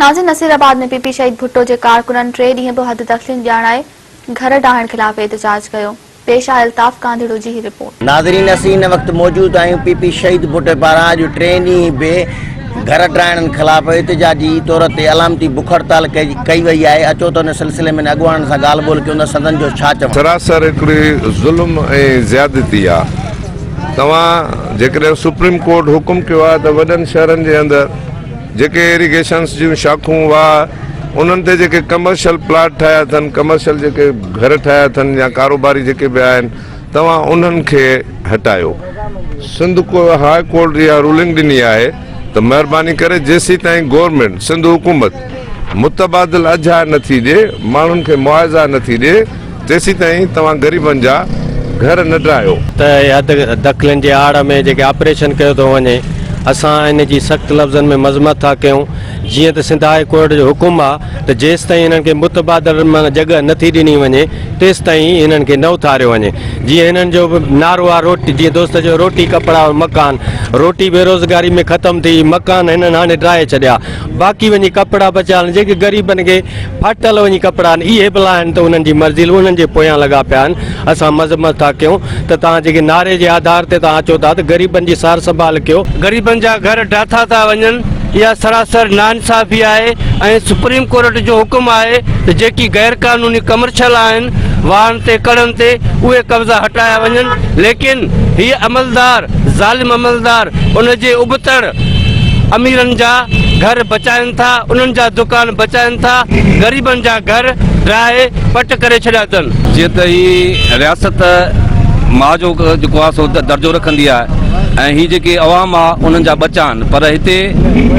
ناظر Nasirabad ۾ P P Shaheed Bhutto جي ڪارڪنن ٽي ڏينهن به حد تسليم ڄاڻائي گهر ڊاهڻ خلاف احتجاج ڪيو، پيش آهي الطاف گانڌيڙو جي هي رپورٽ. ناظرين اسين هن وقت موجود آهيون پي پي شهيد ڀٽو پاران اڄ ٽي ڏينهن به گهر ڊاهڻن خلاف احتجاجي طور تي علامتي بک هڙتال ڪئي وئي آهي اچو ته ان سلسلي ۾ اڳواڻن سان ڳالهه ٻولهه ڪيون ته سندن جو ڇا چوڻ سراسر هڪڙي ظلم ۽ زيادتي آ توهان جيڪڏهن سپريم ڪورٽ حڪم ڪيو آ ته وڏن شهرن جي اندر. جيڪي ايريگيشنس جون شاخون واهه انهن تي جيڪي ڪمرشل پلاٽ ٺاهيا اٿن ڪمرشل جيڪي گهر ٺاهيا اٿن يا ڪاروباري جيڪي به آهن توهان انهن کي هٽايو سنڌ ڪو هاء ڪورٽ اها رولنگ ڏني آهي ته مهرباني ڪري جيسين تائين گورنمينٽ سنڌ حڪومت متبادل اجها نٿي ڏي ماڻهن کي معاضا نٿي ڏي جيسيتائين توهان غريبن جا گهر نه ڊاهيو. ته حد دخلين جي آڙ ۾ جيڪي آپريشن ڪيو ٿو وڃي اسان ان جي سخت لفظن ۾ مذمت ٿا ڪيون جيئن ته سنڌ هاء ڪورٽ جو حڪم آ ته جيستائين انهن کي متبادل مان جڳهه نه ٿي ڏني وڃي تيستائين انهن کي نه اٿاريو وڃي جيئن هنن جو به نعرو آ روٽي جيئن دوست چيو روٽي ڪپڙا اور مڪان روٽي بيروزگاري ۾ ختم ٿي مڪان هنن هاڻي ڊاهي ڇڏيا باقي وڃي ڪپڙا بچيا جيڪي غريبن کي ڦاٽل وڃي ڪپڙا آهن، اهي ڀلا آهن ته انهن جي مرضي لو انهن جي پويان لڳا پيا آهن، اسان مذمت ٿا ڪيون ته توهان جيڪي نعري جي آڌار تي توهان چئو ٿا ته غريبن جي سار سنڀال ڪيو، غريبن جا گهر ڊاٿا ٿا وڃن، اها سراسر ناانصافي آهي ۽ سپريم ڪورٽ جو حڪم آهي ته جيڪي غير قانوني ڪمرشل آهن واهن تي ڪڙن تي اهي قبضا هٽايا وڃن ليڪن هي عملدار ظالم عملدار ان جي ابتڙ اميرن جا گهر بچائن ٿا، انهن جا دڪان بچائن ٿا، غريبن جا گهر ڊاهي پٽ ڪري ڇڏيا اٿن. جيئن ته هي رياست ماء جو جيڪو آهي سو درجو رکندي آهي ۽ هي جيڪي عوام آهي انهن جا ٻچا آهن پر هتي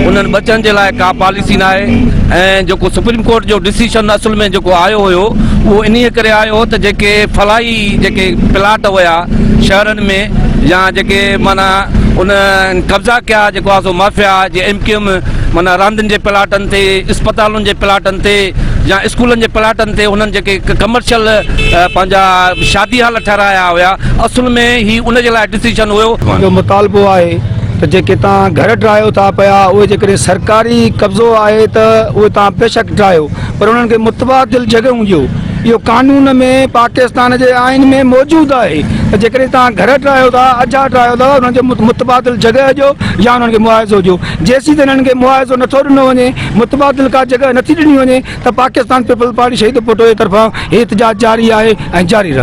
انهن ٻچن جي لاء ڪا پاليسي ناهي ۽ جيڪو سپريم ڪورٽ جو ڊسيشن اصل ۾ جيڪو آيو هيو اهو انهي ڪري آيو هو ته جيڪي فلاحي جيڪي پلاٽ هيا شهرن ۾. يا جيڪي معنيٰ ان قبضا ڪيا جيڪو آهي سو مافيا جي ايم ڪيو ايم معنيٰ راندين جي پلاٽن تي اسپتالن جي پلاٽن تي يا اسڪولن جي پلاٽن تي هنن جيڪي ڪمرشل پنهنجا شادي هال ٺهرايا هيا اصل ۾ هي ان جي لاء ڊسيشن هيو. جو مطالبو آهي ته جيڪي توهان گهر ٽاهيو ٿا پيا اهي جيڪڏهن سرڪاري قبضو آهي ته اهي توهان بيشڪ ٽاهيو پر انهن کي متبادل جڳهون ڏيو. اهو قانون ۾ پاڪستان جي آئين ۾ موجود آهي ته جيڪڏهن توهان گهر ٽاهيو ٿا، اجها ٽاهيو ٿا ته انهن کي متبادل جڳهه ڏيو يا انهن کي معاوضو ڏيو. جيسين تائين انهن کي معاوضو نٿو ڏنو وڃي، متبادل ڪا جڳهه نٿي ڏني وڃي ته پاڪستان پيپلز پارٽي شهيد ڀٽو جي طرفان هي احتجاج جاري آهي ۽ جاري رهندو.